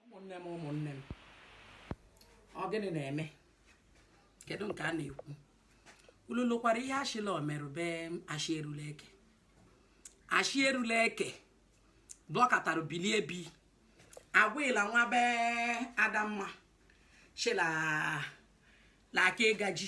ụmụnne m ụmụnne m ọ gịnị na-eme kedu nke a na-ekwu ulu lụkwara ihe a shị la o meru be ashi erule eke ashi erule eke blọkatara bilie bi agwụla nwa be Adamma shị la laka ịgaji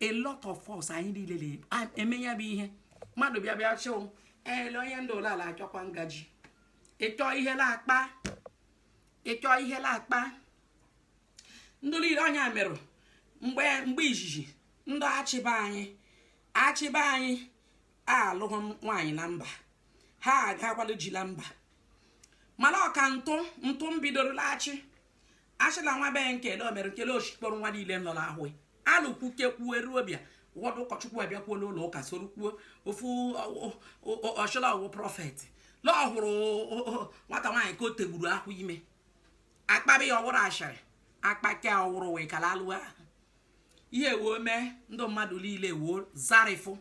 a lot of us anyị niile na-eme ya bụ ihe mmadụ bịa bịa chịụ ele onye ndị ụlọ ala achọkwa ngaji ịchọ ihe na-akpa ịchọ ihe na-akpa ndị niile onye meru mgbe mgbe izizi ndị Achị be anyị Achị be anyị alụghị nwaanyị la mba ha agakwa lụ ji la mba mana ọka ntụ ntụ m bidoro la Achị a shị la nwa be nkele omere nkele oshikpọrọ nwa niile nọ n'ahụ alụkwuke kwuo eruo bịa ụfọdụ ụkọchukwu abịakwuo n'ụlọ ụka soro kwuo ofu ọ shị la ọ wụ prophet la ọ hụrụ nwata nwaanyị ka o tegburu ahụ ime akpabi ya ọ wụrụ ashịrị akpake ọ wụrụ wee kala alụwa ihe woo mee ndị mmadụ niile woo zarịfụ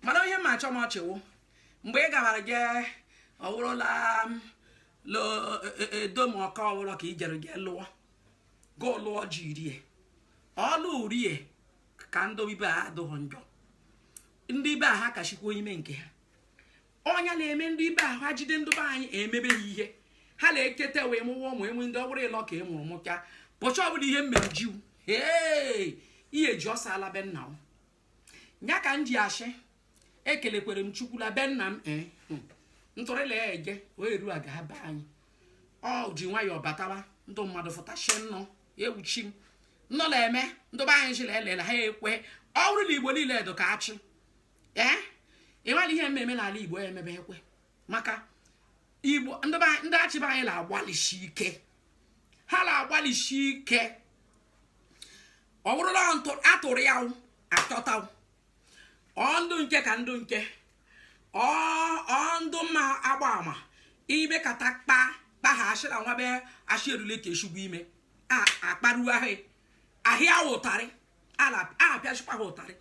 mana ihe ma achọ m ọchịwụ mgbe ị gabara gị ọ wụrụ la edom ọka ọ wụrụ ka ijere gị lụọ gị lụọ ji rie ọlụ rie ka ndị ibe ha adụghị njọ ndị ibe ha kashịkwuo ime nke ha ọ ya na-eme ndị ibe ahụ ha jide ndị be anyị emebe ha ihe ha na-eketa wee mụwa ụmụ enwe ndị ọhụrụ ịlọ ka ị e mụrụ mụcha bụcha ọbụla ihe mere ji wụ ee ihe ji ọsọ ala be nna m ya ka m ji ashị ekelekwere m Chukwu la be nna m ee eh, hmm. ntụrịla ya eje wee eru aga be anyị ọ ji nwayọọ batawa ndị mmadụ fụtashị nnọ ewu chi m nnọ na-eme ndị be anyị chịla elela ha ekwe ọ wụrụ la Igbo niile edo ka Achị ee eh? ịmara ihe mmemme n'ala igbo ya emebe ekwe maka igbo ndị be anyị- ndị Achị be anyị na-agbalịsi ike ha na-agbalịsi ike ọ bụrụ la ntụ atụrụ ya wụ, achọta wụ. ọ ndụ nke ka ndụ nke ọ ọ ndụ mma agba ama ime kata kpa kpa ha ashị la nwa be ashị erule ka eshugbu ime a akparuo ahụ ahịa wụ ụtarị apịashịkwa ha ụtarị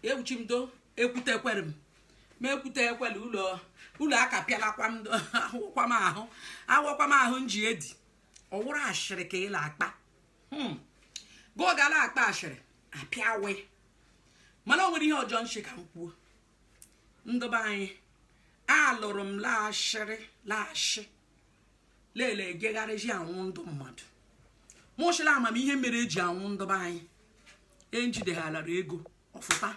ewu chi m do ekwute ekwere m ma ekwute ekwere ụlọ ụlọ aka pịalakwa m ahụkwa m ahụ awakwa m ahụ nji edi ọ wụrụ ashịrị ka ị la-akpa hmm. gogala akpa ashịrị apịa wụ mana o nwere ihe ọzọ m shị ka m kwuo ndị be anyị alụrụ m la ashịrị la Achị lele egegharịzi awụ ndị mmadụ mụchịla amamihe mere eji awụ ndị be anyị ejideghalara ego ọfụta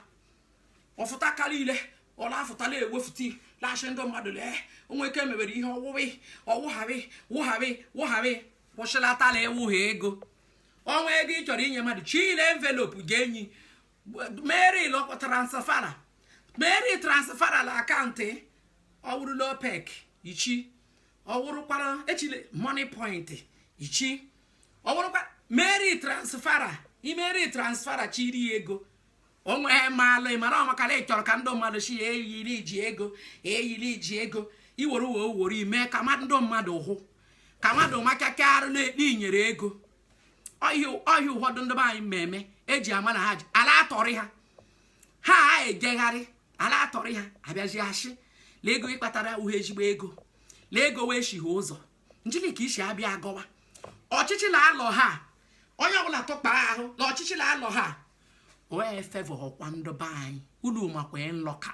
ọfụta karị ile ọla afụtala ewefụta la-ashị ndị mmadụ lee onwe ike mebere ihe ọwụwị ọwụgharị wụgharị wụgharị kwụsịlatala ịwụ ha ego ọnwa ego ị chọrọ inye mmadụ chile envelope ga-enyi meri lọkwa transfer meri transfer la account ọ wụrụ la Opay ka ichi ọ wụrụkwara echile Moniepoint ichi ọ wụrụkwa meri transfer i meri transfer chiri ego onwe ha maalụ ịmara ọmakala ị chọrọ ka ndị mmadụ sị ya eyiri iji ego eyiri iji ego iwere uwe owori mee ka ndị mmadụ hụ ka mmadụ machaka arụ na-ekpe inyere ego ọhịa ụfọdụ ndị be anyị mmemme eji ama na ha ji a la-atọrị ha ha a ejegharị a la-atọrị ha a bịazi ashị la ego ị kpatara uhe ezigbo ego la ego wee shighe ụzọ njili ka isi abịa agọwa ọchịchị na alọ ha onye ọbụla tụkpara ahụ na ọchịchị na alọ ha wee favour ọkwa ndị be anyị unu makwa nlọka